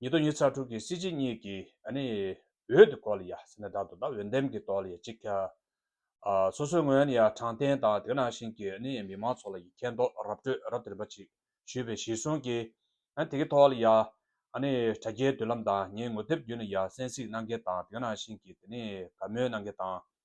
ཉིད་དོ་ཉི་ཚ་དྲུག་གི་སྲིད་སྤྱི་གཉིས་ཀྱི་ནི་འོད་དུ་གོ་ལ་ཡ་ཟེར་ན་དག་དུ་དང་འོད་འདེམས་ཀྱི་དོགས་ལ་ཡ་གཅིག་ཀྱང། སོ་སོའི་ངོས་ནས་ཡ་དྲང་བདེན་དང་དེ་ནང་བཞིན་གྱི་ནི་མི་མང་ཚོགས་ལ་ཡ་མཁྱེན་རྟོགས་རབ་སྤྲོད་རབ་དེ་རིམ་པ་གཅིག་ཞུས་པའི་གཞིར་བཟུང་གིས་ནི་དེ་གི་ཐོག་ལ་ཡ་ནི་དྲ་རྒྱའི་མདུན་ལམ་དང་ངའི་ངོ་དེབ་བརྒྱུད་ནས་ཡ་གསན་གཟིགས་གནང་མཁན་དང་དེ་ནང་བཞིན་གྱི་ནི་དགའ་མོས་གནང་མཁན་དང།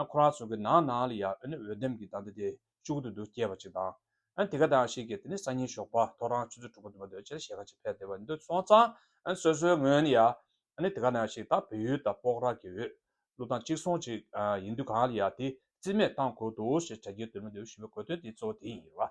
ཨ་ཁོ་རང་ཚོ་གི་ནང་ནང་ལ་ཡང་འོད་ལྡེམ་གྱི་ད་ལྟ་དེ་ཤུགས་ཏུ་འདུག་སྐྱེས་པ་ཅིག་དང། དེ་ག་དང་ཞིག་གིས་དེ་ནི་སང་ཉིན་ཞོགས་པ་ཐོ་རངས་ཆུ་ཚོད་དྲུག་པ་འདུག་པ་འདོད་ཆེར་ཞེད་ཁ་ཅིག་འཕེལ་ཏེ་བ་འདུག་སོང་ཙང་སོ་སོའི་ངོས་ནས་ཡང་དེ་ག་ནང་ཞིག་ད་བོད་ཡུལ་དང་སྤོག་ར་གི་འོད་གླུ་དང་གཅིག་མཚུངས་ཅིག་ཡིན་དུས་གང་ལ་ཡང་དེ་རྩིས་མེད་བཏང་དགོས་འདུག་ཞེས་གྲ་རྒྱས་དོད་མོ་འདི་ཞུ་བའི་གོ་དོན་དེ་གཙོ་བོ་དེ་ཡིན་ལ།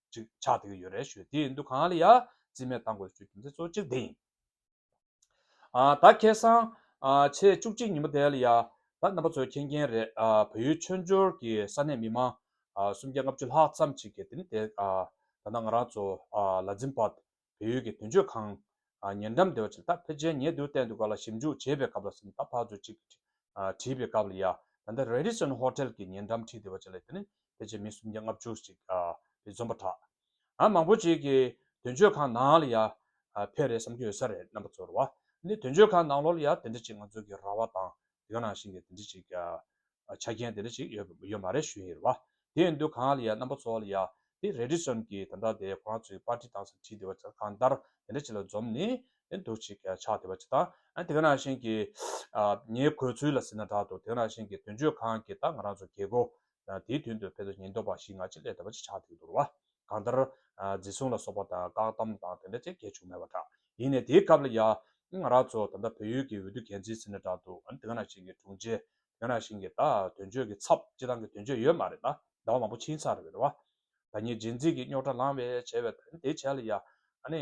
ཅིག་ཆགས་དེ་གི་ཡོད་རེད་ཞུས་དེའི་འདུ་ཁང་ལ་ཡ་རྩིས་མེད་བཏང་དགོས་ཞུས་རྒྱུ་མཚན་གཙོ་གཅིག་དེ་ཡིན། ད་ཁེ་སང་ཕྱི་ཚེས་བཅུ་གཅིག་ཉིན་མོ་དེ་ལ་ཡ་ད་རྣམ་པ་ཚོའི་མཁྱེན་མཁྱེན་རེད་བོད་ཡུལ་ཆོས་འབྱོར་གི་ས་གནས་མི་མང་སུམ་བརྒྱ་ལྔ་བཅུ་ལྷག་ཙམ་ཅིག་གི་དེ་ནི་དེ་ད་ནང་ང་རང་ཚོ་ལ་འཛིན་པ་བལ་ཡུལ་གྱི་དོན་གཅོད་ཁང། ཉེ་འགྲམ་སྡེ་བ་ཆེ་ད་ཕེ་ཅན་ཉེ་དུ་བསྟན་དུ་ག་ལ་ཞིབ་འཇུག་བྱེད་པའི་སྐབས་ལ་སེམས་ད་ཕག་ཚོད་ཅིག་བྲིས་པའི་སྐབས་ལ་ཡ་ད་ནི་རེ་རི་སོན་ཧོ་ཏེལ་གྱི་ཉེ་འགྲམ་ཁྲི་སྡེ་བ་ཆེ་ལ་ད་ནི་ཕེ་ཅན་མི་སུམ་བརྒྱ་ལྔ་བཅུ་ཅིག་རེ་འཛོམས་པ་དྲག་ཨ་མང་པོ་ཅིག་གི་དོན་གཅོད་ཁང་ནང་ལ་ཡ་ཕེ་རེ་བསམ་གྱི་ཡོད་ས་རེད་རྣམ་པ་ཚོར་བ་ནི་དོན་གཅོད་ཁང་ནང་ལོར་ཡ་དེ་འདྲ་ཅིག་ང་ཚོ་གི་ར་བ་དང་དེ་ག་ནང་བཞིན་གྱི་དེ་འདྲ་ཅིག་ཆ་རྐྱེན་དེ་འདྲ་ཅིག་ཡོད་ཡོད་མ་རེད་ཞུ་ཡི་རེད་བ། དེ་ཡིན་དུས་གང་ལ་ཡ་རྣམ་པ་ཚོ་ལ་ཡ་དེ་རེད་དྲི་ཟོན་གྱི་དེ་འདྲ་དེ་ཁོ་རང་ཚོའི་པར་ཏི་དང་སང་ཁྲི་དེ་བ་ཆ་གང་ལྟར་དེ་འདྲ་ཅིག་ལ་འཛོམས་ནས་དེ་འདུག་ཅིག་ཆགས་དེ་བ་ཅིག་དང་དེ་ག་ནང་བཞིན་གྱི་ངའི་གོས་ཚུལ་ལ་ཟེར་ན་དྲག་འདུག་དེ་ག་ནང་བཞིན་གྱི་དོན་གཅོད་གང་གི་ད་ང་རང་ཚོ་གེ་གོ་ཡང་དེའི་དོན་དུ་ཕལ་དུ་ཉེན་རྟོག་པ་ཞིག་ང་ཅི་སླད་དུ་བ་ཅི་ཆགས་འདུག་འདུག་བ། གང་ལྟར། འཛིན་བཟུང་ལ་སོགས་པ་དང་བཀག་བསྡམ་དང་དེ་འདྲ་ཅི་བྱས་བྱུང་མེད་པ་འདྲ། ཡིན་ནས་དེའི་སྐབས་ལ་ཡ། ང་རང་ཚོ་ད་ལྟ་བོད་ཡུལ་གྱི་འོས་བསྡུ་འགན་འཛིན་ཟེར་ནས་བསྒྲགས་འདུག་འོན་ཏེ་གང་ན་ཞིག་གི་དྲུང་ཆེ། གང་ན་ཞིག་གི་ད་དོན་གཅོད་ཀྱི་ཚབ་སྤྱི་བཏང་གི་དོན་གཅོད་ཡོད་མ་རེད་ད། ཟླ་བ་མང་པོ་ཕྱིན་ས་རེད་བ། ད་ངས་རྗེས་འཛིན་གྱི་རྙོག་དྲ་ལངས་བས་བྱས་བའི་དོན་དེ་བྱས་ལ་ཡ། ཨ་ནི།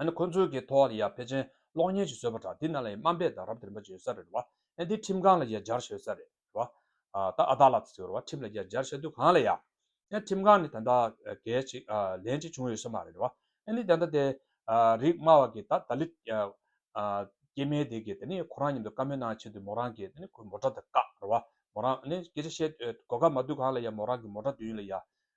ཨནྡི་ཁོ་ཚོའི་གི་ཐོག་ལ་ཡ་ཕེ་ཅན་གློག་བརྙན་ཞིག་བཟོས་པ་འདྲ་འདི་ནང་ལ་ཡ་སྨ་འབད་དང་རབ་དེར་འབད་ཅིག་ཡོད་ས་རེད་རེད་བ་ཨནྡི་ཁྲིམས་ཁང་ལ་ཡ་སྦྱར་ཤ་ཡོད་ས་རེད་རེད་བ་ད་ཨ་ད་ལ་ཚེ་རེད་བ་ཁྲིམས་ལ་ཡ་སྦྱར་ཤ་དུས་གང་ལ་ཡ་ཨནྡི་ཁྲིམས་ཁང་ནས་ད་ལྟ་གས་ཅིག་ལན་ཅིག་བྱུང་ཡོད་ས་མ་རེད་རེད་བ་ཨནྡི་ད་ལྟ་དེ་རིགས་སྨ་བ་གི་ད་ད་ལི་སྐྱེས་མའི་དེ་གི་དེ་ནི་ཁོ་རང་ཉིན་དུ་བཀའ་མོལ་གནང་ཆེད་དུ་མོ་རང་གི་དེ་ནི་ཁོའི་མོ་དགྲ་དེ་བཀག་རེད་བ་མོ་རང་ཨནྡི་སྐད་ཆ་བཤད་གོ་ག་མ་དུས་གང་ལ་ཡ་མོ་རང་གི་མོ་དགྲ་དུས་ཡུན་ལ་ཡ་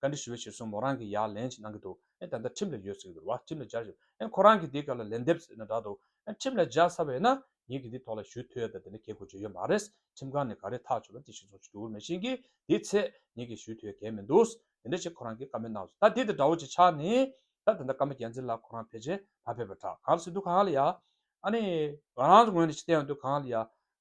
བཀའ་འདྲི་ཞུ་བའི་ཕྱིར་སོང་མོ་རང་གིས་ཡར་ལན་ཞིག་གནང་གི་འདུག་ཨེ་ད་ལྟ་ཁྲིམས་ལ་ཡོད་ཟེར་གི་འདུག་བ་ཁྲིམས་ལ་སྦྱར་ཞེས་པ་ཨེ་ཁོ་རང་གིས་དེའི་སྐབས་ལ་ལན་འདེབས་ཟེར་ན་འདྲ་འདུག་ཨེ་ཁྲིམས་ལ་སྦྱར་ཚར་བ་ཡིན་ན་ངེད་ཀྱིས་འདིའི་ཐོག་ལ་ཞུ་ཐུ་ཡོད་ད་དེ་འདྲ་གེ་དགོས་བརྗོད་ཡོད་མ་རེད་ཁྲིམས་ཁང་ནས་ག་རེ་ཐག་ཆོད་པ་དེ་ཞིག་སོང་ཆུ་དུ་འུར་མེད་བཞིན་གྱི་དེའི་ཚེ་ངེད་ཀྱིས་ཞུ་ཐུ་ཡོད་གེ་མི་འདུག་དེ་འདྲ་ཞིག་ཁོ་རང་གིས་བཀའ་མོལ་གནང་བ་ཟེར་ད་དེ་དེ་འདྲ་བོ་ཅིག་ཆགས་ནས་ད་དེ་འདྲ་བཀའ་མོལ་རྒྱལ་མཚན་ལགས་ཁོ་རང་ཕལ་ཆེར་མ་ཕེབས་པ་འདྲ་གང་ལ་སྲིད་འདུག་གང་ལ་ཡ་ཨ་ནི་ང་རང་ཚོ་ངོས་ནས་ཅི་བསྟན་ཡོད་འདུག་གང་ལ་ཡ།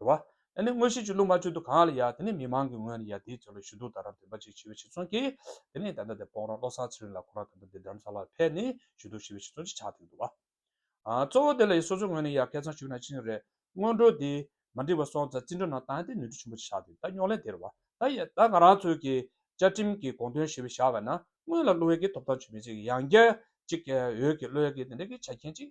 རེད་བ། ཨ་ནི་དངོས་གཞི་ཆུ་ཀླུང་མ་ཆུ་དུ་གང་ལ་ཡ་དེ་ནི་མི་མང་གི་ངོས་ནས་ཡ་དེའི་དོན་ལ་ཞུ་གཏུག་དང་རམ་འདེགས་པ་ཅིག་ཞི་བའི་ཕྱིར་ཚོང་གི། དེ་ནས་ད་ལྟ་དེ་སྤོང་རོགས་བློ་བཟང་ཚེ་རིང་ལགས་ཁོ་རང་ད་ལྟ་དེ་དྲམ་ས་ལ་ཕེབས་ནས་ཞུ་གཏུག་ཞི་བའི་ཕྱིར་ཚོང་ཅིག་ཆགས་ཐུབ་ཀྱི་འདུག་བ། གཙོ་བོ་དེ་ལ་ཡི་སོ་སོའི་ངོས་ནས་ཡ་སྐད་ཚང་ཞུ་ན་ཅི་ནས་རེད། སྔོན་འགྲོ་དེ། མ་འགྲིག་པ་སོང་ཙང་བརྩི་འགྲོ་གནང་ད་དེ་ནུས་འཕྲུལ་ཆེན་པོ་ཅིག་ཆགས་ཐུབ་ཀྱི་ད་རྙོག་གླེང་དེ་རེད་བ། ད་ང་རང་ཚོའི་གི། བཅའ་ཁྲིམས་གི་དགོངས་དོན་ཞི་བའི་བཞག་པ་ན་སྔོན་ལ་བློ་ཡུལ་གྱི་ཐོབ་ཐང་ཆོད་མེད་ཅིག་ཡང་བསྐྱར་ཅིག་ཡོད་ཀྱི་བློ་ཡུལ་གྱི་དེ་འདྲ་གི་ཆ་རྐྱེན་ཅིག་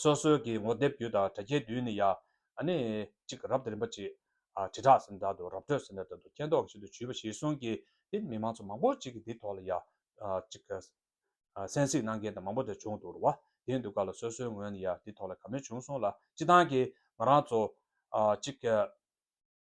སོ་སོའི་གི་ངོ་དེབ་བརྒྱུད་དང་དྲ་རྒྱའི་བརྒྱུད་ནི་ཡ། ཨ་ནི། ཅིག་རབ་ཏུ་རིམ་པ་ཅིག། ཨ་དྲིལ་བསྒྲགས་ཟིན་ད་དུ་རབ་སྤྲོད་ཟིན་ད་དུ་སྐྱེ་མདོག་ཅིག་ཏུ་བྱུས་པ་ཞིག་གསུངས་ཀྱི་འདི་མི་མང་ཚོ་མང་པོ་ཅིག་གི་འདི་ཐོག་ལ་ཡ། ཅིག། གསན་གཟིགས་གནང་མཁན་དང་མང་པོ་དེར་བྱུང་འདུག་རུ་བ་དེའི་འདུག་ག་ལ་སོ་སོའི་ངོས་ནས་ཡ་འདི་ཐོག་ལ་ག་མེད་བྱུང་སོང་ལ་སྤྱི་བཏང་གི་ང་རང་ཚོ། ཅིག།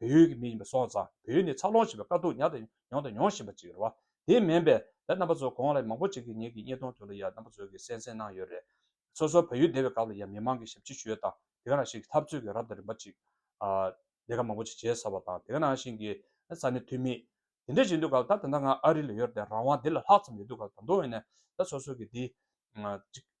བོད་ཡུལ་གྱི་མི་ཡིན་པའི་སྲོག་རྩ་བོད་ཡུལ་ནས་འཚར་ལོངས་བྱས་པའི་དཀའ་སྡུག་མྱངས་དང་མྱོང་དང་མྱོང་བཞིན་པ་ཅིག་རེད་བ། དེ་མིན་པའི་ལས་རྣམ་པ་ཚོ་གོང་ལ་མང་པོ་ཅིག་གིས་ངེད་ཀྱི་བརྙན་ཐུང་དེ་ལ་ཡང་རྣམ་པ་ཚོ་གིས་གསན་གསན་གནང་ཡོད་རེད། སོ་སོ་བོད་ཡུལ་བདེ་བའི་སྐབས་ལ་ཡང་མི་མང་གིས་ཞབས་ཕྱི་ཞུས་ཡོད་དང་དེ་ག་རང་བཞིན་གྱི་འཐབ་རྩོད་ཀྱི་རབ་དང་རིམ་པ་ཅིག་ལས་ཀ་མང་པོ་ཅིག་བྱས་ཚར་བ་དང་དེ་ག་རང་བཞིན་གྱི་ས་གནས་འཐུས་མི་དེ་འདྲས་བྱས་འདུག་སྐབས་ད་དེ་འདྲ་ང་ཨ་རི་ལ་ཡོད་དེ་རང་དབང་དེ་ལ་ལྷག་ཙམ་ཡོད་འདུག་སྐབས་ད་དུང་ཡང་ན་ད་སོ་སོ་གིས་འདི་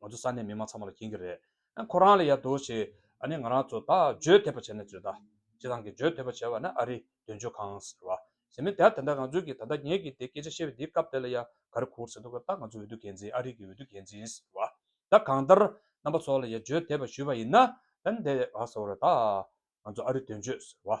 ང་ཚོ་ས་གནས་མི་མང་ཚང་མ་ལ་མཁྱེན་གྱི་རེད། ཁོ་རང་ལ་ཡ་དོ་ཞེས་ཨ་ནི་ང་རང་ཚོ་ད་བརྗོད་ཐེབས་པ་བྱས་ནས་བརྗོད་ད། སྤྱི་བཏང་གི་བརྗོད་ཐེབས་པ་བྱས་བ་ནི་ཨ་རི་དོན་གཅོད་ཁང་ཟེར་བ། ཟེར་མི་དེ་ད་ད་ང་ཚོས་ཀྱི་ད་ལྟ་ངེད་ཀྱིས་དེ་སྐད་ཆ་བཤད་བའི་དེའི་སྐབས་དེ་ལ་ཡ་ག་རེ་ཁུར་ཟེར་འདུག་གི་ད་ང་ཚོའི་འོས་བསྡུ་འགན་འཛིན་ཨ་རི་གྱི་འོས་བསྡུ་འགན་འཛིན་ཟེར་བ། ད་གང་ལྟར་རྣམ་པ་ཚོ་ལ་ཡ་བརྗོད་ཐེབས་པ་ཞུས་བ་ཡིན་ན། ད་ནི་དེ་ཡ་ག་ཟེར་བ་རེད་ད། ང་ཚོ་ཨ་རི་དོན་གཅོད་ཟེར་བ།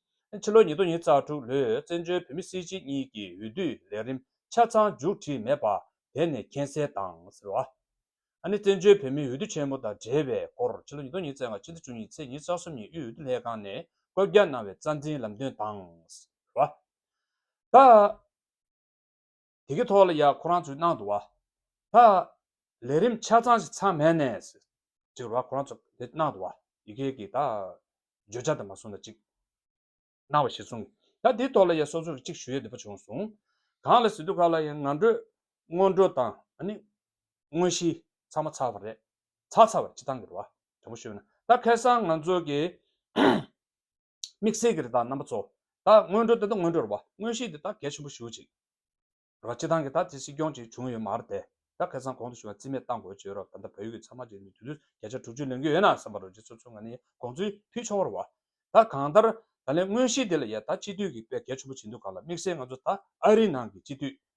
ཕྱི་ལོ་ཉིས་སྟོང་ཉིས་རྩ་དྲུག་ལོའི་བཙན་བྱོལ་བོད་མི་སྲིད་སྤྱི་གཉིས་ཀྱི་འོས་བསྡུའི་ལས་རིམ་ཆ་ཚང་མཇུག་བསྒྲིལ་མེད་པ་དེ་ནི་མཁྱེན་གསལ་དང་ཟེར་བ་ནི་བཙན་བྱོལ་བོད་མིའི་འོས་བསྡུ་ཆེན་མོ་དང་འབྲེལ་བའི་སྐོར་ཕྱི་ལོ་ཉིས་སྟོང་ཉིས་བརྩེགས་ལྔ་ཕྱི་ཟླ་བཅུ་གཉིས་ཚེས་ཉིན་རྩ་གསུམ་ཉིན་དབུས་འོས་བསྡུ་ལྷན་ཁང་ནས་བཀོད་རྒྱ་གནང་བའི་རྩ་འཛིན་ལམ་སྟོན་དང་ཟེར་བ་དང། དེ་གི་ཐོག་ལ་ཡང་ཁོ་རང་ཚོའི་ནང་དུ་བ། ཧ། ལས་རིམ་ཆ་ཚང་ཞིག་ཚང་མས་ནས། ཅིག་རོ་ཁོ་རང་ཚོ་དེ་ནང་དུ་བ། ཡི་གེ་གི་ད། བརྗོད་བྱ་དེ་མ་གསུངས་ན་ཅིག། གནང་བ་ཞིག་གསུངས། ད་དེའི་ཐོག་ལ་ཡང་སོ་སོ་རུ་ཅིག་ཞུ་ཡ་འདི་པ་བྱུང་སོང། གང་ལ་ཟེར་དུས་ཁ་ལ་ཡང་ང་འགྲོས། སྔོན་འགྲོ་དང་ནི། དངོས་གཞི་ཚང་མ་ཚར་བ་རེད། ཚར་ཚར་བ་ཅིག་གཏང་གི་རོ་བ། དྲང་པོ་ཤོད་ན། ད་ཁེ་སང་ང་ཚོ་གི། དམིགས་བསལ་གྱི་རི་དྭགས་རྣམ་པ་གཙོ། བདག་སྔོན་འགྲོ་དེ་དང་སྔོན་འགྲོར་བ་དངོས་གཞི་འདི་དག་གལ་ཆེན་པོ་ཞུ་ཅིག། ར་བྱེད་སྟངས་ཀྱི་ད་དེ་སྲིད་སྐྱོང་ཅིག་བྱུང་ཡོད་མ་རེད་དེ། ད་ཁེ་སང་གོང་དུ་བྱུང་བ་རྩིས་མེད་བཏང་དགོས་བྱས་རོགས་ད་ལྟ་བོད་ཡུལ་གྱི་ཚང་མ་རྗེས་མི་དུས་ཚོད་བརྒྱ་ཆ་དྲུག་ཅུ་ལོན་གྱི་ཡོད་ན་བསམ་པ་རོ་རྗེ་ཚོ་ཚོ་ང་ནི་དགོངས་ཚུལ་ཕུལ་ཆོག་བར་བ། ད་གང་ལྟར་ད་ལན་དངོས་གཞི་དེ་ལ་ཡས་ད་སྤྱི་འཐུས་ཀྱི་དཔེ་གལ་ཆེན་པོ་བྱེད་འདུག་ག་ལ་དམིགས་བསལ་ང་ཚོ་ད་ཨ་རི་ནང་གི་སྤྱི་འཐུས་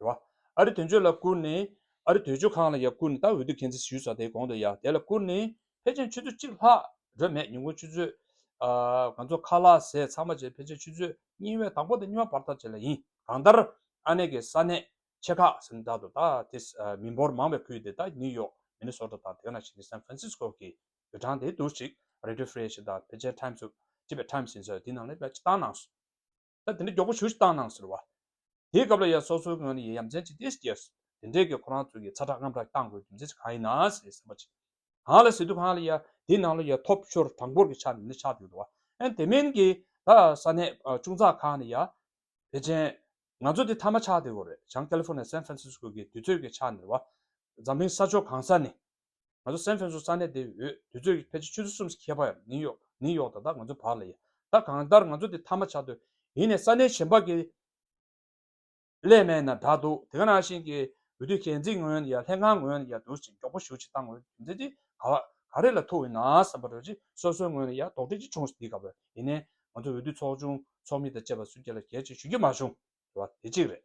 རེད་བ། ཨ་རི་དོན་གཅོད་ལ་བསྐུར་ནས། ཨ་རི་དོད་གཅོད་ཁང་ལ་ཡང་བསྐུར་ནས་ད་འོས་བསྡུ་གན་ཚིག་ཞུས་ས་དེའི་གོང་དུ་ཡང་དེ་ལ་བསྐུར་ནས། ཕལ་ཆེར་ཆུ་ཚོད་གཅིག་ལྷག་འགྲོས་མེད་ཉིན་གུང་ཆུ་ཚོད། ང་ཚོ་ཁ་ལག་ཟས་ཚང་མ་བྱས་ཕལ་ཆེར་ཆུ་ཚོད་གཉིས་བའི་དང་པོ་དང་གཉིས་བ་བར་ཐག་བཅད་ལ་ཡིན། གང་ལྟར། ཨ་ནེ་གི་ས་གནས། ཆེ་ཁག་ཟིན་བདག་ཏུ་ད་དེ། མི་འབོར་མང་བའི་ཁུལ་དེ་དག་ནིའུ་ཡོག། མེ་ནི་སོ་ཏོ་དང་དེ་ག་ནང་བཞིན་གྱི་སན་ཧྥི་རན་སིས་ཀོ་གི། བོད་གྲངས་དེའི་དུར་གཅིག། རེ་ཏི་ཧྥི་རེ་ཤི་དང་ཕལ་ཆེར་ཐཱིམ་སུ། ཅེས་པའི་ཐཱིམ་ཟིན་ས་དེའི་ནང་ལས་པའི་སྤྱི་བཏང་ནང། ད་དེ་འདྲའི་མགྱོགས་པོ་ཞུ་ཞིག་བཏང་གནང་ཟེར་བ། དེའི་སྐབས་ལ་ཡ་སོ་སོའི་ངོས་ནས་ཡ་ཡ་མཚན་གཅིག་དེ་ཞིག་སྐྱེས་སོ། དེ་འདྲའི་གི་ཁོ་རང་ཚོའི་གི་ཚ་དྲག་རྔམ་དྲག་གི་བཏང་དགོས་རྒྱུ་མཚན་ཞིག་གང་ཡིན་ནའང་ཟེར་སེམས་པ་ཅིག་གང་ལ་ཟེར་དུས་གང་ལ་ཡ་དེའི་ནང་ལ་ཡ་ཐོབ་ཤོར་གྲངས་འབོར་གི་ཆ་ནས་ནི་ཆགས་ཡོད་དོ། ཨན་དེ་མིན་གི་ད་ས་གནས་ཆུང་ཙག་ཁག་ནས་ཡ། བེ་ཅན། ང་ཚོ་དེ་ཐ་མ་ཆགས་བསྡད་དགོས་རེད་བྱང་ཀེ་ལི་ཧྥོ་ནེ་ཡ་སན་ཧྥ་རན་སིས་ཀོ་གི་དུས་ཚོད་གི་ཆ་ནས་བ། འཛམ་གླིང་ས་ཕྱོགས་གང་ས་ནས་ང་ཚོ་སན་ཧྥེན་སུ་ས་གནས་དེའི་འོས་བསྡུ་ཚོད་ཀྱི་ཕལ་ཆེར་ཆུ་ཚོད་གསུམ་ཞིག་ཁེལ་བ་ཡང་ནིའུ་ཡོག་ནིའུ་ཡོག་དང་ད་ང་ཚོའི་བར་ལ་ཡིན། ད་གང་ལྟར་ང་ཚོ་དེ་མཐའ་མ་ཆགས་དུས་ཡིན་ནས་ས་གནས་གཞན་པ་གི་ལས་མེད་ན་དྲག་འདུག་དེ་ག་ནང་བཞིན་གྱི་འོས་བསྡུ་ཤན་འཛིན་ངོས་ཡ་ལྷན་ཁང་ངོས་ཡ་བསྡུར་ཅིང་མགྱོགས་པོ་ཞུ་ཅིག་བཏང་འོས་བསྡུ་མཛད་རྗེས་ག་བ་ག་རེ་ལ་ཐུག་ཡོད་ནའང་བསམ་པར་རོལ་ཅིག་སོ་སོའི་ངོས་ནས་ཡ་དོགས་འདྲི་ཅིག་བྱུང་སྡིགས་ག་བ་ཡིན་ནས་ང་ཚོ་འོས་བསྡུ་ཚོགས་ཆུང་ཚོགས་མི་དང་བཅས་པ་སུ་སྐྱེ་ལ་གལ་ཆེ་ཞུ་རྒྱུ་མ་བྱུང་བ་དེ་གཅིག་རེད།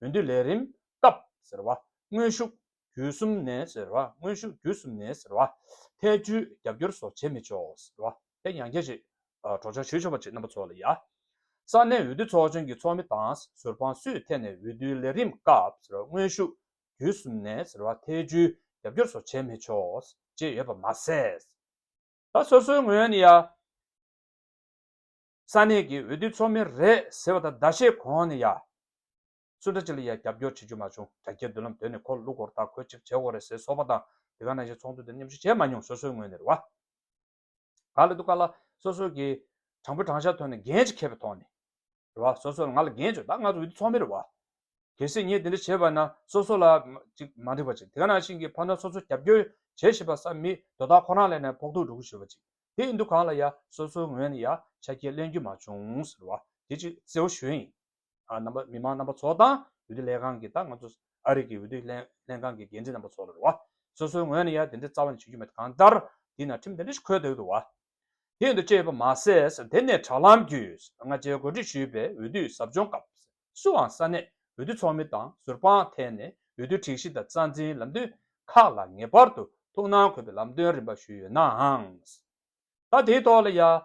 འོས་བསྡུ་ལས་རིམ་སྐབས་ཟེར་བ་དངོས་ཤུགས་བརྒྱུད་གསུམ་ནས་ཟེར་བ་དངོས་ཤུགས་བརྒྱུད་གསུམ་ནས་ཟེར་བ་ཐལ་རྒྱུའི་རྒྱབ་སྐྱོར་སོགས་བྱེད་མི་ཆོག་ཟེར་བ་དེ་ཡང་རྒྱལ་གཅེས་གྲོགས་ཆོག་ཞུ་ཆོག་པ་བཅས་རྣམ་པ་ཚོགས་ལ་ཡ། ས་གནས་འོས་བསྡུ་ཚོགས་ཆུང་གི་ཚོགས་མི་དང་ཟུར་དཔང་སུའི་ཐད་ནས་འོས་བསྡུའི་ལས་རིམ་སྐབས་ཟེར་བ་དངོས་ཤུགས་བརྒྱུད་གསུམ་ནས་ཟེར་བ་ཐལ་རྒྱུའི་རྒྱབ་སྐྱོར་སོགས་བྱེད་མི་ཆོག་ཅེས་ཡོད་པ་མ་ཟད། ད་སོ་སོའི་ངོས་ནས་ཡ། ས་གནས་ཀྱི་འོས་བསྡུ་ཚོགས་མི་རེད་ཟེར་བ་དང་ཟླ་ཤས་གོང་ནས་ཡ། སུ་འདྲ་ཅིག་ལ་ཡ་རྒྱབ་སྐྱོར་བྱེད་རྒྱུ་མ་བྱུང་རྒྱ་སྐྱེད་འདུན་ལམ་དོད་ནས་ཁོ་ལུག་གོར་དག་གོས་གཅིག་བྱེད་འོག་རེད་ཟེར་སོགས་པ་དང་དེ་ག་ནང་བཞིན་ཚོགས་འདུ་དེར་མཉམ་ཞུགས་བྱས་མ་མྱོང་སོ་སོའི་ངོས་ནས་རེད་བ། ག་ལ་འདུག་ག་ལ་སོ་སོ་གི་དྲང་པོ་དྲང་བཞག་ཐོག་ནས་འགན་གཅིག་ཁྱེར་བའི་ཐོག་ནས་རེད་བ་སོ་སོ་ལ་ང་ལ་འགན་བཅོལ་ད་ང་ཚོ་འོས་བསྡུ་ཚོགས་མི་རེད་བ། གལ་སྲིད་ངས་དེ་འདྲ་བྱས་པ་ན་སོ་སོ་ལ་ཅིག་མ་འགྲིག་པ་ཅིག་དེ་ག་ནང་བཞིན་གྱི་ཕ་མཐའ་སོ་སོ་རྒྱབ་སྐྱོར་བྱེད་བཞིན་པ་ས་མི་དོ་བདག་ཁོ་རང་ལས་ནས་ཕོག་ཐུག་འགྲོ་གི་ཞུ་བ་ཅིག་དེ་ཡིན་འདུག་གང་ལ་ཡ་སོ་སོའི་ངོས་ནས་ཡ་ཆ་རྐྱེན་གླེང་རྒྱུ་མ་བྱུང་ཟེར་བ་དེ་ཅིག་གཙོ་བོ་གཞོན་ཡིན་རྣམ་པ་མི་མང་རྣམ་པ་ཚོ་དང་འོས་བསྡུ་ལས་ཁང་གི་དང་ང་ཚོ་ཨ་རིག་གི་འོས་བསྡུ་ལྷན་ཁང་གི་འགན་འདྲི་རྣམ་པ་ཚོ་ལ་རེད་བ་སོ་སོའི་ངོས་ནས་ཡ་དེ་འདྲའི་རྩ་བ་ནས་བྱེད་རྒྱུ་མེད་གང་ལྟར་དེ་ན་ཁྲིམས་དེ་འདྲ་ཞིག་འཁོད་འདུག་བ་དེ་ཡིན་འདུག་ཅེས་པ་མ་ཟད་དེ་ནས་དྲ་ལམ་བརྒྱུད་ང་རྒྱལ་གོ་སྒྲིག་ཞུས་པའི་འོས་བསྡུའི་ཟབ་སྦྱོང་སྐབས་སུའང་ས་གནས་འོས་བསྡུ་ཚོགས་མི་དང་ཟུར་དཔང་ཐད་ནས་འོས་བསྡུའི་སྒྲིག་གཞི་དང་རྩ་འཛིན་ལམ་སྟོན་ཁག་ལ་ངེས་པར་དུ་ཐུགས་སྣང་འཁོད་པའི་ལམ་སྟོན་རིམ་པ་ཞུས་ཡོད་ནའང། ད་དེའི་ཐོག་ལ་ཡང།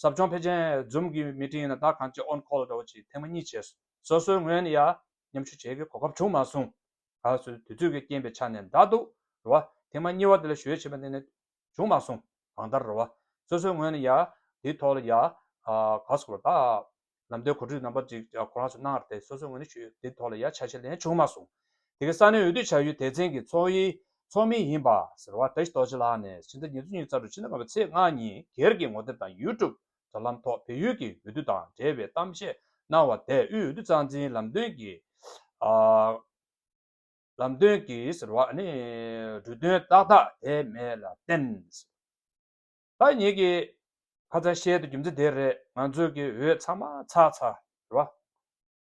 ཟབ་སྦྱོང་ཕལ་ཆེན Zoom གི Meeting ནང་ད་གང་ཅི On Call འདྲ་བོ་ཅིག་ཐེངས་མ་གཉིས་བྱས་སོ་སོའི་ངོས་ནས་ཡང་མཉམ་ཞུགས་བྱེད་དགོས་གོ་སྐབས་བྱུང་མ་སོང། ད་གཟོད་དུས་ཚོད་ཀྱི་རྐྱེན་པའི་ཆ་ནས་འདའ་འདུག་རུང་བ་ཐེངས་མ་གཉིས་བར་དེ་ལ་གཞོལ་བྱས་པ་འདི་ནི་བྱུང་མ་སོང། གང་ལྟར་རེ་བ། སོ་སོའི་ངོས་ནས་ཡ། དེའི་ཐོག་ལ་ཡ། ག་སོགས་ལ་དག། ལམ་སྟོན་གོ་སྒྲིག་རྣམ་པ་གཅིག་ཁོ་རང་ཚོས་གནང་བར་དེ་སོ་སོའི་ངོས་ནས་ཞུས་དེའི་ཐོག་ལ་ཡ་ཆ་ཆེ་ལན་བྱུང་མ་སོང། དེ་གའི་ས་གནས་འོས་བསྡུ་བྱ་ཡུལ་དེ་ཚན་གྱི་ཚོགས་ཡི། ཚོགས་མི་ཡིན་པ། ཟེར་བ་ཏཱི་རྡོ་རྗེ་ལགས་ནས་ཕྱི་ཟླ་ཉེར་བཅུ་ཉིན་གསར་འགོད་ཕྱི་ཟླ་ལྔ་པའི་ཚེས་ལྔ་ཉིན་སྒེར་གྱི་ངོ་དེབ་དང YouTube དྲ་ལམ་ཐོག་བལ་ཡུལ་གྱི་འོས་བསྡུ་དང་འབྲེལ་བའི་གཏམ་བཤད་གནང་བ་དེས་དབུས་འོས་བསྡུ་རྩ་འཛིན་ལམ་སྟོན་གྱི། ལམ་སྟོན་གྱི་ཟེར་བ་ནི་འབྲུ་དོན་ཏག་ཏག་དེ་མེད་ལ་བརྟེན། ད་ངེད་ཀྱི་ཁ་ཚ་ཤེལ་དུ་རྒྱུ་མཚན་དེ་རེད་ང་ཚོས་ཀྱི་འོས་ཚང་མ་ཚགས་ཚ་ཟེར་བ།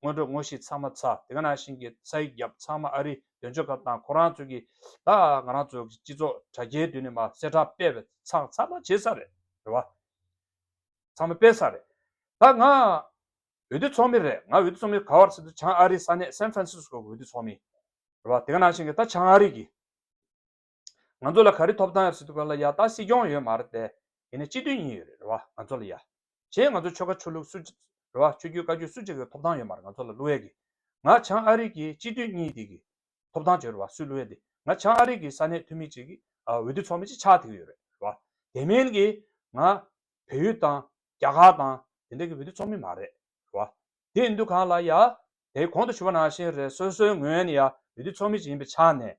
དངོས་གྲུབ་དངོས་གཞི་ཚང་མ་ཚགས་དེ་ག་ནང་བཞིན་གྱི་ས་ཡིག་བརྒྱབ་ཚང་མ་ཨ་རི་དོན་གཅོད་ཁབ་དང་ཁོ་རང་ཚོས་ཀྱི་ད་ང་རང་ཚོ་སྤྱི་ཚོགས་དྲ་རྒྱའི་དུས་ནས་མ་གསལ་ཁྲ་སྤེལ་བས་ཚགས་ཚང་མ་བྱེད་ས་རེད་ཟེར་བ། ཚང་མ་སྤེལ་ས་རེད་ད་ང། འོས་བསྡུ་ཚོགས་མི་རེད་ང་འོས་བསྡུ་ཚོགས་མི་ག་བར་ཕྱིན་དུ་བྱང་ཨ་རིའི་ས་གནས San Francisco གི་འོས་བསྡུ་ཚོགས་མི་རེད་བ་དེ་ག་ནང་བཞིན་གི་ད་བྱང་ཨ་རི་གི་ང་ཚོ་ལ་ག་རི་ཐོབ་ཐང་ཡོད་སྲིད་དུ་ག་ལ་ཡ་ད་སྲིད་སྐྱོང་ཡོད་མ་རེད་དེ་ཡིན་ན་སྤྱི་མཐུན་གཉིས་ཡོད་རེད་བ་ང་ཚོ་ལ་ཡ་གཞན་ང་ཚོ་ཆོལ་ཁ་ཆོས་ལུགས་སུ་རེད་བ་ཆོས་རྒྱུད་བཀའ་རྒྱུད་སུ་གཅིག་གི་ཐོབ་ཐང་ཡོད་མ་རེད་ང་ཚོ་ལ་བསླུ་བས་གི་ང་བྱང་ཨ་རི་གི་སྤྱི་མཐུན་གཉིས་དེ་གི་ཐོབ་ཐང་བྱོས་རེད་བ་སུས་བསླུ་བས་དེ་ང་བྱང་ཨ་རི་གི་ས་གནས་འཐུས་མི་གཅིག་གི་འོས་བསྡུ་ཚོགས་མི་གཅིག་ཆགས་ཐིག་ཡོད་རེད་བ་དེ་མིན་གི་ང། བལ་ཡུལ་དང་རྒྱ་གར་དང་དེ་འདྲ་གི་བུད་དུ་ཚོགས་མི་མ་རེད་རོ། དེ་འདུ་གང་ལ་ཡ། དེ་གོང་དུ་ཞུ་བ་ནང་བཞིན་རེད་སོ་སོའི་ངོས་ནས་ཡ་བུད་དུ་ཚོགས་མི་ཞིག་ཡིན་པའི་ཆ་ནས།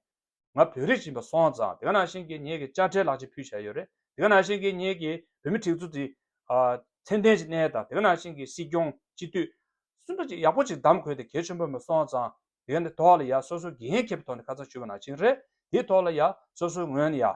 ང་བོད་རིགས་ཡིན་པ་སོང་ཙང་དེ་ག་ནང་བཞིན་གི་ངེད་ཀྱི་དཔྱ་ཁྲལ་ལག་ཅིག་ཕུལ་བྱས་ཡོད་རེད་དེ་ག་ནང་བཞིན་གི་ངེད་ཀྱི་བོད་མི་ཁྲིག་ཚོ་དེ། མཚན་ལྡན་གྱི་གནས་དང་དེ་ག་ནང་བཞིན་གི་སྲིད་སྐྱོང་སྤྱི་འཐུས། སུ་འདྲ་ཅིག་ཡག་པོ་ཅིག་གདམ་དགོས་དེ་གལ་ཆེན་པོ་མ་སོང་ཙང་དེ་ག་ནི་ཐོག་ལ་ཡ་སོ་སོའི་འགན་འཁྱེར་བའི་ཐོག་ནས་ཁ་ཚང་ཞུ་བ་ནང་བཞིན་རེད་དེའི་ཐོག་ལ་ཡ་སོ་སོའི་ངོས་ནས་ཡ།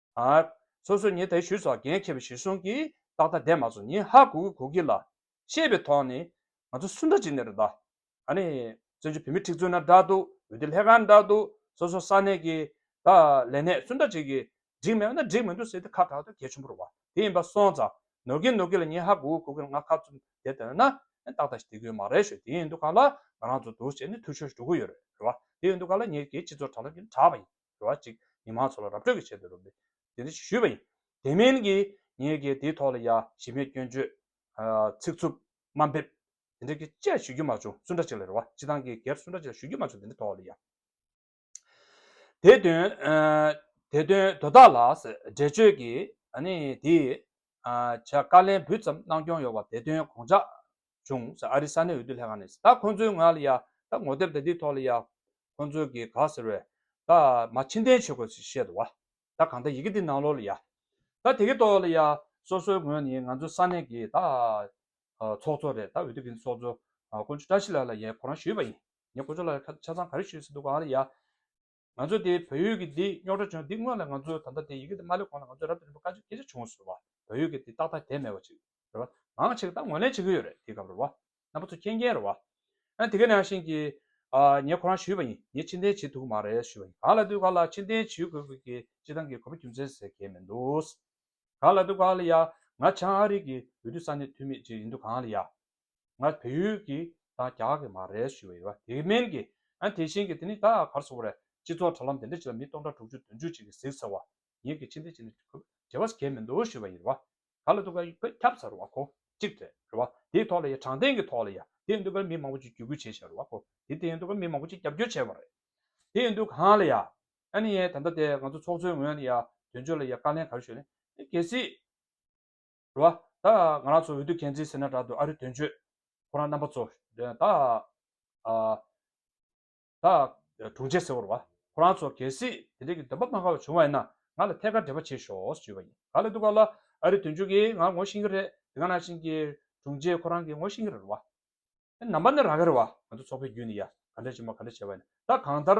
ཨཱ། སོ་སོ་ཉིད་དེ་ཞུས་སོགས་འགན་འཁྱེར་བའི་གཞི་གཟུང་གིས་རྟགས་ཐ་དད་མ་སོགས་ཉིད་ཧ་གོ་གི་གོ་གི་ལ། ཤེས་པའི་ཐོག་ནས། ང་ཚོ་སུ་འདྲ་ཅིག་ནས་རེད་ད། ཨཱ་ནི། བཙན་བྱོལ་བོད་མི་ཁྲི་བཙུན་ན་འདྲ་འདུག་འོན་ཏེ་ལྷས་ཁང་འདྲ་འདུག་སོ་སོ་ས་གནས་ཀྱི། ད། ལས་གནས་སུ་འདྲ་ཅིག་གིས། འགྲིག་མེད་པ་ན་འགྲིག་མི་འདུག་ཟེར་ཏེ་ཁ་གྲག་ཏུ་གལ་ཆེན་པོ་རུ་བ་དེ་ཡིན་པ་སོང་ཙང། ནོར་གི་ནོར་གི་ལ་ཉིད་ཧ་གོ་གི་གོ་གི་ལ་ང་ཁ་བཙུམ་བསྡད་དོན་ན། ཏག་ཏག་ཞིག་དེ་གོའི་མ་རེད་ཞོ་དེ་ཡིན་འདུག་ག་ལ་ང་རང་ཚོ་འདུག་བྱས་ནས་ཐུགས་ཤོར་ཞིག་འགྲོ་གི་ཡོད་རེད་རེད་བ་དེ་ཡིན་འདུག་ག་ལ་ངས་ཀྱི་སྤྱི་ཚོགས་དྲ་ལམ་གྱི་ནས་དྲ་བ་ཡིན། འགྲོ་བ་གཅིག་མི་མང་ཚོ་ལ་ར་སྤྲོད་ཀྱི་ཆེད་དུ་རུབ་སྟེ་དེ་འདི་ཞུས་པ་ཡིན། དེ་མིན་གྱི་ངས་ཀྱི་དེའི་ཐོག་ལ་ཡ་ཞི་མེད་སྐྱོན་བརྗོད། ཚིག་རྩུབ། དམའ་འབེབས། དེ་འདྲ་གི་དཔྱད་ཞུ་རྒྱུ་མ་བྱུང་སུ་འདྲ་ཅིག་ལ་རེ་བ་སྤྱི་བཏང་གི་སྒེར་སུ་འདྲ་ཅིག་ལ་ཞུ་རྒྱུ་མ་བྱུང་དེ་འདྲའི་ཐོག་ལ་ཡ། དེ་དོན། དེ་དོན་དོ་བདག་ལ་འགྲེལ་བརྗོད་ཀྱི་ནི་དེའི། བྱ་དཀའ་ལན་འབུལ་ཙམ་གནང་སྐྱོང་ཡོང་བ་དེ་དོན་དགོངས་འཇགས། བྱུང་ཨ་རི་ས་གནས་འོས་བསྡུ་ལྷན་ཁང་ནས་ད་ཁོང་ཚོའི་ངང་ལ་ཡ་ད་ངོ་དེབ་དེ་འདིའི་ཐོག་ལ་ཡ་ཁོང་ཚོའི་གི་ག་ཟེར་བས་ད་མ་ཕྱི་འཐེན་བྱེད་དགོས་ཚུལ་བཤད་འདུག་བ་ད་གང་ལྟར་ཡི་གེ་འདི་ནང་ལོགས་ལ་ཡ་ད་དེ་གི་ཐོག་ལ་ཡ་སོ་སོའི་ངོས་ནས་ང་ཚོའི་ས་གནས་གི་ད་ཚོགས་གཙོ་རེད་ད་འོས་བསྡུ་གི་ཚོགས་གཙོ་དཀོན་མཆོག་བཀྲ་ཤིས་ལགས་ལ་ཡ་ཁོ་རང་ཞུས་པ་ཡིན་ཡ་དཀོན་མཆོག་ལགས་ལ་ཆ་ཚང་ག་རེ་ཞུས་ཟིན་འདུག་གང་ལ་ཡ། ང་ཚོ་དེ་བོད་ཡུལ་གྱི་འདི་རྙོག་དྲ་བྱུང་འདི་སྔོན་ལ་ང་ཚོ་ད་ལྟ་དེ་ཡི་གེ་དེ་མ་སླེབས་གོང་ལ་ང་ཚོ་རབ་ཏུ་རིམ་པ་དཀའ་སྤྱད་སྐད་ཆ་བྱུང་ཟེར་བ་བོད་ཡུལ་གྱི་དེ་ཏག་ཏག་དེ་མེད་པ་ཅིག་རེད་བ། ངང་ཆེ་གི་ད་ངོས་ལེན་བྱེད་ཀྱི་ཡོད་རེད་དེའི་སྐབས་རེད་བ། རྣམ་པ་ཚོ་མཁྱེན་མཁྱེན་རེད་བ། ཨ་དེ་ག་ནང་བཞིན་གྱི། ཨ་ངས་ཁོ་རང་ཞུས་པ་ཡིན་ངས་ཕྱིར་འཐེན་བྱེད་ཐུག་གི་མ་རེད་ཞུས་པ་ཡིན་ག་ལ་དུས་བཀག་ལ་ཕྱིར་འཐེན་བྱེད་དགོས་གི་ཅི་ཐང་གི་གོ་བ་རྒྱུ་མཚན་ཟེར་གྱི་མི་འདུག་ག་ལ་དུས་བཀག་ལ་ཡ། ང་བྱང་ཨ་རིག་གི་འོས་བསྡུ་ས་གནས་འཐུས་མི་ཅིག་ཡིན་དུས་གང་ལ་ཡ། ང་བལ་ཡུལ་གྱི་དང་རྒྱ་གི་མ་རེད་ཞུ་བ་ཡོད་བ་དེ་མིན་གྱི་ཨ་དེ་བཞིན་གྱི་དེ་ནི་ད་བར་སོང་བར་སྤྱི་ཚོགས་དྲ་ལམ་དེ་འདྲ་ཅིག་ལ་མི་སྟོང་ཕྲག་དྲུག་ཅུ་བདུན་ཅུ་ཅིག་གིས་གཟིགས་ཟེར་བ་ཡིན་གྱི་ཕྱི་འདི་ཅིག་ནི་བྲེལ་བ་གས་མི་འདུག་ཞུ་བ་ཡིན་བ་ག་ལ་འདུག་ག་བོད་ཁྱབ་ཚར་བ་ཁོ་གཅིག་རེད་རེད་བ་དེའི་ཐོག་ལ་ཡ་དྲང་བདེན་གྱི་ཐོག་ལ་ཡ་དེ་འདུག་ག་མི་མང་པོ་ཅིག་བརྒྱུད་སྐུལ་བྱས་བྱས་རེད་བ་ཁོ་དེ་དེ་འདུག་ག་མི་མང་པོ་ཅིག་རྒྱབ་སྐྱོར་བྱས་བ་རེད་དེ་འདུག་གང་ལ་ཡ་ཨ་ནི་ཡ་དེ་འདྲ་དེ་ང་ཚོ་ཚོགས་གཙོའི་ངོས་ནས་ཡ་དོན་གཅོད་ལ་ཡ་བཀའ་ལན་ག་རེ་ཞུ་ནས་གལ་སྲིད། རེད་བ། ད་ང་རང་ཚོ་འོས་བསྡུ་གན་འཛིན་ཟེར་ན་དྲག་འདུག་ཨ་རི་དོན་གཅོད་ཁོ་རང་རྣམ་པ་ཚོ། ད་ད་དྲུང་ཆེ་ཟེར་བོར་བ། ཁོ་རང་ཚོ་གལ་སྲིད་དེ་འདྲས་ཀྱི་འདོན་པ་གནང་དཀའ་བ་བྱུང་བ་ཡིན་ན་ང་ལ་ཐད་ཀར་འབྲེལ་བ་བྱེད་ཞོགས་ཞེས་བརྗོད་པ་ཡིན། ག་ལ་འདུག་ག་ལ་ཨ་རི་དོན་གཅོད་ཀྱིས་ང་ངོ་ཤེས་ཀྱི་རེད་དེ་ག་ནང་བཞིན་གྱི་དྲུང་ཆེ་ཁོ་རང་གིས་ངོ་ཤེས་ཀྱི་རེད་བ། རྣམ་པ་ནི་རང་གི་རེད་བ། ང་ཚོ་ཚོགས་པའི་བརྒྱུད་ནས་ཡ་ག་འདྲ་བྱེད་མ་ག་འདྲ་བྱེད་བ་ཡིན་ན་ད་གང་ལྟར་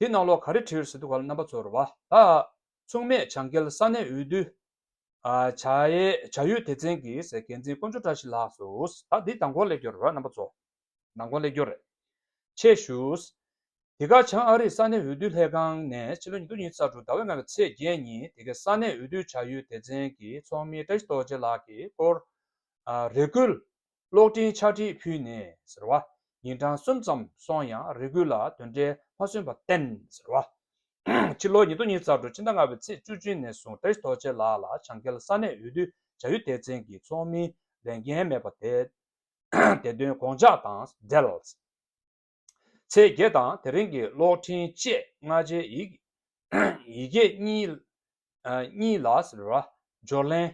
དེ་རྣ་ལོག་ག་རེ་བྲིར་སི་ཏུ་ག་ལ་རྣམ་པ་ཚོར་བ་དག་མཚུངས་མེད་བྱང་གལ་ས་གནས་འོས་བསྡུ་བྱ་ཡུལ་སྡེ་ཚན་གྱི་ཟེར་འགན་འཛིན་དཀོན་མཆོག་བཀྲ་ཤིས་ལགས་སུ་ད་དེ་དང་གོ་ལེགས་སྐྱོར་རོགས་རྣམ་པ་ཚོ། ནང་གོ་ལེགས་སྐྱོར་རེད། ཆེད་ཞུ། དེ་ག་བྱང་ཨ་རིའི་ས་གནས་འོས་བསྡུ་ལྷན་ཁང་ནས་ཕྱི་ལོ་ཉིས་སྟོང་ཉིས་རྩ་དྲུག་ཟླ་བའི་ལྔ་བའི་ཚེས་བརྒྱད་ཉིན་དེ་གའི་ས་གནས་འོས་བསྡུ་བྱ་ཡུལ་སྡེ་ཚན་གྱི་ཚོགས་མི་བཀྲ་ཤིས་རྡོ་རྗེ་ལགས་ཀྱིས་སྐོར་རེ་བསྐུལ་གློག་འཕྲིན་ཕྱག་བྲིས་ཕུལ་ནས་ཟེར་བ། ཉིན་གྲངས་གསུམ་ཙམ་སོང་ཡང་རེ་སྐུལ་ལ་དོན་འབྲས་མ་སོན་པར་བརྟེན་ཟེར་བ། ཕྱི་ལོ་ཉིས་སྟོང་ཉིས་རྩ་དྲུག་ཕྱི་ཟླ་ལྔ་བའི་ཚེས་བཅུ་བྱོན་ནས་བཟུང་ཀྲེས་རྡོ་རྗེ་ལགས་ལ་བྱང་གེལ་ས་གནས་འོས་བསྡུ་བྱ་ཡུལ་སྡེ་ཚན་གྱི་ཚོགས་མིའི་ལས་འགན་མེད་པ་དེ་དོན་དགོངས་འཇགས་དང་འབྲེལ། ཚེས་བརྒྱད་དང་དེ་རིང་གི་གློག་འཕྲིན་བཅས་སྔ་རྗེས་ཡིག་སྐད་གཉིས་ལ་བསྒྱུར་ལེན་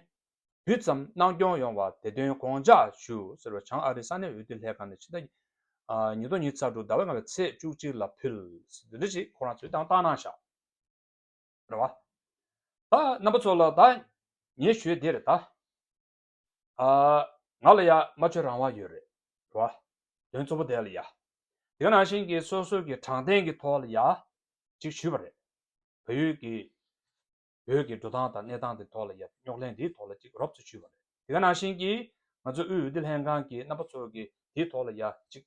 དུས་ཙམ་གནང་སྐྱོང་ཡོང་བ་དེ་དོན་དགོངས་འཇགས་ཞུ། བྱང་ཨ་རི་ས་གནས་འོས་བསྡུ་ལྷན་ཁང་ནས་ཕྱི་ཟླ་ཉིས་སྟོང་ཉིས་ཚར་དྲུག་ཟླ་བའི་ལྔ་བའི་ཚེས་བཅུ་གཅིག་ལ་ཕུལ། རྣམ་པ་ཚོ་ལ་ད་ངས་ཞུས་འདིར་ད། ཨ། ང་ལ་ཡ་མ་ཆོད་རང་དབང་ཡོད་རེད་བ། དོན་གཙོ་བོ་དེ་ལ་ཡ། དེ་ནང་བཞིན་གྱི་སོ་སོ་གྱི་དྲང་བདེན་གྱི་ཐོག་ལ་ཡ། ཅིག་ཞུས་པ་རེད། བལ་ཡུལ་གྱི། བོད་ཀྱི་འགྲོ་སྟངས་དང་གནས་སྟངས་དེ་ཐོག་ལ་ཡ་རྙོག་གླེང་དེའི་ཐོག་ལ་ཅིག་རོབ་ཙེ་ཞུས་པ་རེད། དེ་ག་ནང་བཞིན་གྱི། ང་ཚོ་དབུས་འོས་བསྡུ་ལྷན་ཁང་གི་རྣམ་པ་ཚོ་གི་དེའི་ཐོག་ལ་ཡ། ཅིག།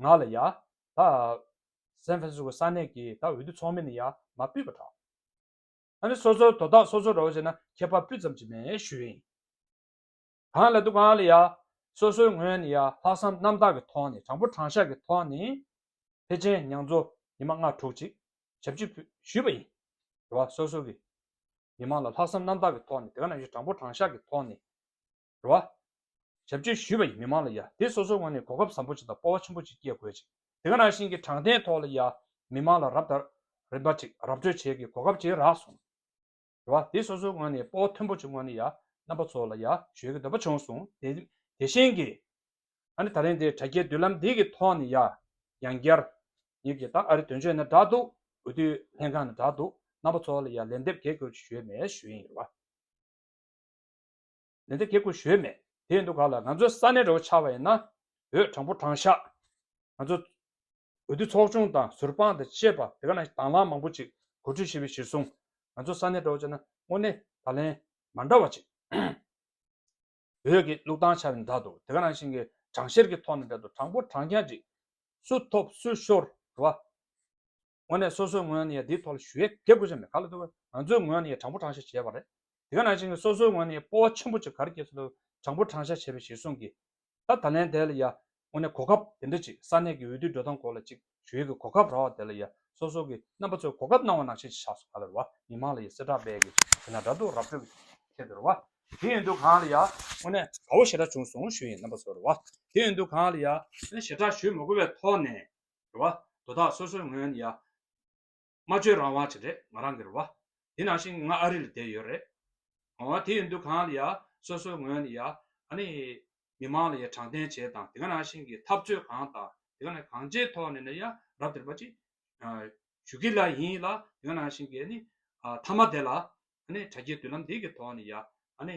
ང་ལ་ཡ། ད། སན་ཧྥན་སིས་ཀོ་ས་གནས་ཀྱི་ད་འོས་བསྡུ་ཚོགས་མི་ནི་ཡ་མ་སྤུས་པ་དྲག། ཨ་ནི་སོ་སོར་དོ་བདག་སོ་སོར་རོགས་བྱས་ན་ཁྱད་པར་སྤུས་ཙམ་གྱི་མེད་ཞུ་ཡིན། གང་ལ་འདུག་གང་ལ་ཡ། སོ་སོའི་ངོས་ནས་ཡ་ལྷག་བསམ་རྣམ་དག་གི་ཐོག་ནས་དྲང་པོ་དྲང་བཞག་གི་ཐོག་ནས། ཕལ་ཆེན་མྱང་ཙོ་ཉི་མ་ལྔ་དྲུག་ཅིག་ཞབས་ཕྱི་ཕུལ་ཞུས་པ་ཡིན། དེ་བ་སོ་སོ་གི། མི་མང་ལ་ལྷག་བསམ་རྣམ་དག་གི་ཐོག་ནས་དེ་ག་ནང་བཞིན་དྲང་པོ་དྲང་བཞག་གི་ཐོག་ནས། རོ། ཞབས་སྤྱོད་ཞུས་པ་ཡིས་མི་མང་ལ་ཡ་དེ་སོ་སོའི་ངང་ནས་གོ་སྐབས་བཟང་པོ་ཅིག་དང་སྤོ་བ་ཆེན་པོ་ཅིག་སྐྱེལ་དགོས་ཅིང་དེང་རང་བཞིན་གྱི་དྲང་བདེན་ཐོག་ལ་ཡ་མི་མང་ལ་རབ་དང་རིམ་པ་ཅིག་ར་སྤྲོད་བྱེད་ཀྱི་གོ་སྐབས་ཅིག་རག་སོང། རོ། དེ་སོ་སོའི་ངང་ནས་སྤོ་བ་མཐོན་པོ་ཅིག་ངང་ནས་ཡ་རྣམ་པ་ཚོ་ལ་ཡ་གཞོལ་གྱི་འདོད་པ་བྱུང་སོང་དེ་དེ་བཞིན་གྱི། ཨ་ནི་ད་ལན་དེ་དྲ་རྒྱའི་མདུན་ལམ་འདི་གི་ཐོག་ནས་ཡ། ཡང་བསྐྱར། ངེད་ཀྱིས་ད་ཨ་རི་དོན་གཅོད་ན་དྲག་འདུག་འོས་བསྡུའི་ལྷན་ཁང་ན་དྲག་འདུག་རྣམ་པ་ཚོ་ལ་ཡ་ལན་འདེབས་གལ་དགོས་ཅིག་ཞུས་མེད་ཞུ་ཡིན་རོ། ལས་འདི་གེ་ཁུ་བཞོས་མེད་དེའི་འདུག་ག་ལ་ང་ཚོའི་ས་གནས་རེ་བོ་ཆགས་པ་ཡིན་ན་བོད་དྲང་པོ་དྲང་བཞག་ང་ཚོ་འོས་བསྡུ་ཚོགས་ཆུང་དང་ཟུར་དཔང་དང་བཅས་པ་དེ་ག་ན་དང་བླངས་མང་པོ་ཅིག་གོ་སྒྲིག་བྱས་པའི་གཞིར་བཟུང་ང་ཚོ་ས་གནས་རེ་བོ་བྱས་ན་དངོས་གནས་ད་ལན་མ་འདྲ་བ་ཅིག་བོད་ཀྱི་ལུགས་དང་ཆ་མི་འདྲ་འདུག་དེ་ག་ནང་བཞིན་གྱི་དྲང་བཤེར་གྱི་ཐོག་ནས་འདྲ་འདུག་དྲང་པོ་དྲང་བཞག་ཅིག་སུ་ཐོབ་སུ་ཤོར་བ། ངོ་ནས་སོ་སོའི་ངོས་ནས་འདིའི་ཐོག་ལ་ཞུ་ཡས་བརྒྱབ་དགོས་ས་མེད་ག་ལ་ཐུབ་བ་ང་ཚོའི་ངོས་ནས་དྲང་པོ་དྲང་བཞག་བྱས་པ་རེད་དེ་ག་ནང་བཞིན་སོ་སོའི་ངོས་ནས་སྤོ་བ་ཆེན་པོ་ཅིག་གར་སྐྱེལ་ཐུབ་དྲང་པོ་དྲང་བཞག་བྱས་པའི་གཞིར་བཟུང་གིས་ད་ད་ལན་དེ་ལ་ཡ་ངོ་ནས་གོ་སྐབས་དེ་འདྲ་ཅིག་ས་གནས་ཀྱི་འོས་བསྡུའི་འགྲོ་སྟངས་སྐོར་ལ་ཅིག་ཞུ་ཡས་ཀྱི་གོ་སྐབས་རག་བ་དེ་ལ་ཡ་སོ་སོ་ཀྱི་རྣམ་པ་ཚོས་གོ་སྐབས་གནང་བ་ནང་བཞིན་ཅིག་བཞག་སོ་ག་ལ་རེད་བ་མི་མང་ལ་ཡ་སེར་དྲག་པས་ཀྱི་དེ་ན་དྲ་འདུག་ར་སྤྲོད་ཀྱི་ཆེད་དུ་རེད་བ་དེ་ཡིན་དུས་གང་ལ་ཡ་ངོ་ནས་དགའ་བོ་ཞེ་དྲག་བྱུང་སོང་ཞུ་ཡས་རྣམ་པ་ཚོ་རེད་བ་དེ་ཡིན་དུས་གང་ལ་ཡ་ངོ་ནས་ཞེ་དྲག་ཞུ་མི་དགོས་པའི་ཐོག་ནས་རེད་བ། དོ་ཐག་སོ་སོའི་ངོས་ནས་ཡ། སྨྲ་བརྗོད་རང་དབང་བྱེད་རེད་ང་རང་གིར་བ། དེ་ནང་བཞིན་ང་ཨ་རི་ལ་བསྡད་ཡོད་རེད། ཨོ་བ། དེ་ཡིན་དུས་གང་ལ་ཡ། སོ་སོའི་ངོས་ནས་ཡ། ཨ་ནི། མི་མང་ལ་ཡ་དྲང་བདེན་བྱས་དང་དེ་ག་ནང་བཞིན་གྱི་འཐབ་རྩོད་གང་དང་དེ་ག་ནས་གང་ཅིའི་ཐོག་ནས་ནས་ཡ་རབ་དེར་བ་ཅིག། ཞུ་གི་ལ་ཡིན་ལ་དེ་ག་ནང་བཞིན་གྱི་ཨ་ནི། ཨ་མཐའ་མ་དེ་ལ། ཨ་ནི་དྲ་རྒྱའི་མདུན་ལམ་འདི་གི་ཐོག་ནས་ཡ། ཨ་ནི།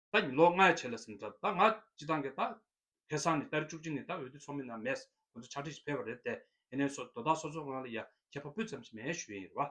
ད་ནི་ལོ་ལྔའི་ཆེད་ལ་ཟིན་གྲབས་ད་ང་སྤྱི་བཏང་གི་ད། ཁེ་སང་ནི་ལྟར་བཅུ་གཅིག་ནི་ད་འོས་བསྡུ་ཚོགས་མི་རྣམས་མེད། ང་ཚོ་ཕྱག་བྲིས་ཤིག་འཕེལ་བ་རེད་དེ། ཡེ་ནས་སོ་དོ་ད་སོ་སོ་ངང་ལ་ཡ་ཁྱད་པ་པུད་ཙམ་ཞིག་མེད་ཞུ་ཡིན་རེད་བ།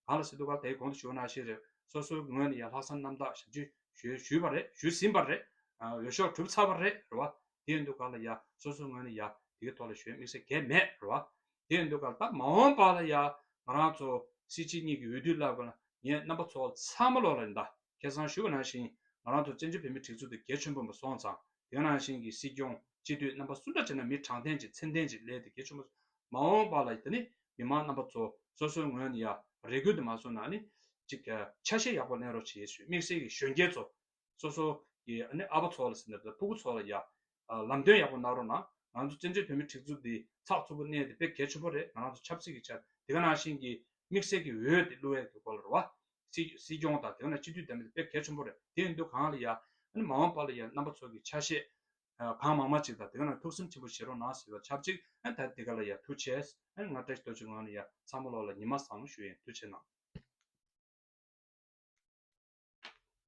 གང་ལ་སི་འདུག་ག་དེའི་གོང་དུ་ཞུ་ན་ཤེས་རེད། སོ་སོའི་ངོས་ནས་ཡ་ལྷག་བསམ་རྣམ་དག་ཞབས་ཕྱི་ཞུས་ཞུས་པ་རེད་ཞུས་ཟིན་པ་རེད། འོས་ཤོག་གྲུབ་ཚར་བ་རེད་རེད་བ། དེའི་འདུག་ག་ལ་ཡ་སོ་སོའི་ངོས་ནས་ཡ་དེའི་ཐོག་ལ་ཞོན་དམིགས་བསལ་གས་མེད་རེད་བ། དེ་འདོད་ཁར་ད་མ་འོངས་པ་ལ་ཡང་ང་རང་ཚོ་སྲིད་སྤྱི་གཉིས་ཀྱི་འོས་བསྡུ་བསླབ་དགོས་ན་ངས་རྣམ་པ་ཚོ་ཚང་མ་ལོག་ལ་རེ་ད་ཁེ་བཟང་ཞུ་བ་ནང་བཞིན་ང་རང་ཚོ་བཙན་བྱོལ་བོད་མིའི་སྒྲིག་འཛུགས་དེ་གལ་ཆེན་པོ་མ་སོང་ཙང་དེ་ནང་བཞིན་གྱི་སྲིད་སྐྱོང་སྤྱི་འཐུས་རྣམ་པ་སུ་འདྲ་བྱས་ན་མི་དྲང་བདེན་ཅིག་མཚན་བདེན་ཅིག་ལས་དེ་གལ་ཆེན་པོ་མ་འོངས་པ་ལ་ད་ནི་མི་མང་རྣམ་པ་ཚོ་སོ་སོའི་ངོས་ནས་ཡང་རེ་སྐུལ་དུ་མ་སོང་ན་ནི་ཅིག་ཆ་ཤས་ཡག་པོ་གླེང་རོགས་བྱེད་ཞུ་དམིགས་བསལ་གྱི་གཞོན་སྐྱེས་ཚོ་སོ་སོ་ཀྱི་ཨ་ཕ་ཚོ་ལ་ཟེར་ནས་བལ་ཕུག་ཚོ་ལ་ཡ། ལམ་སྟོན་ཡག་པོ་གནང་རོགས་གནང། ང་ཚོ་བཙན་བྱོལ་བོད་མི་ཁྲིག་རྩུབ་འདི་ཚགས་ཚུད་པོ་གནས་འདི་དཔེ་གལ་ཆུ་བོ་རེད་ང་རང་ཚོ་ཆབ་སྲིད་ཀྱི་ཆ་དེ་ག་ནང་བཞིན་གྱི་དམིགས་བསལ་གྱི་འོས་དེ་བླུ་འོས་ཀྱི་སྐོར་ལ་རོ་བ། སྲིད་སྐྱོང་དང་དེ་ག་ནང་སྤྱི་འཐུས་དམ་པ་དེ་དཔེ་གལ་ཆུ་བོ་རེད་དེ་ཡིན་དུས་གང་ལ་ཡ། མ་འོངས་པ་ལ་ཡ་རྣམ་པ་ཚོ་གྱི་ཆ་བཤད་གང་མང་མང་ཅིག་དང་དེ་ག་ནང་ཐུགས་སེམས་ཆེན་པོ་བཞེས་རོགས་གནང་ཟེར་བ་ཆབ་ཅིག་ད་དེ་ག་ལ་ཡ་ཐུགས་ཆེས་ང་བཀྲ་ཤིས་དོ་ཅོ་ངང་ནས་ཡ་ཚང་མ་ལོག་ལ་ཉི་མ་བཟང་མོ་ཞུ་ཡིན་ཐུགས་ཆེས་གནང།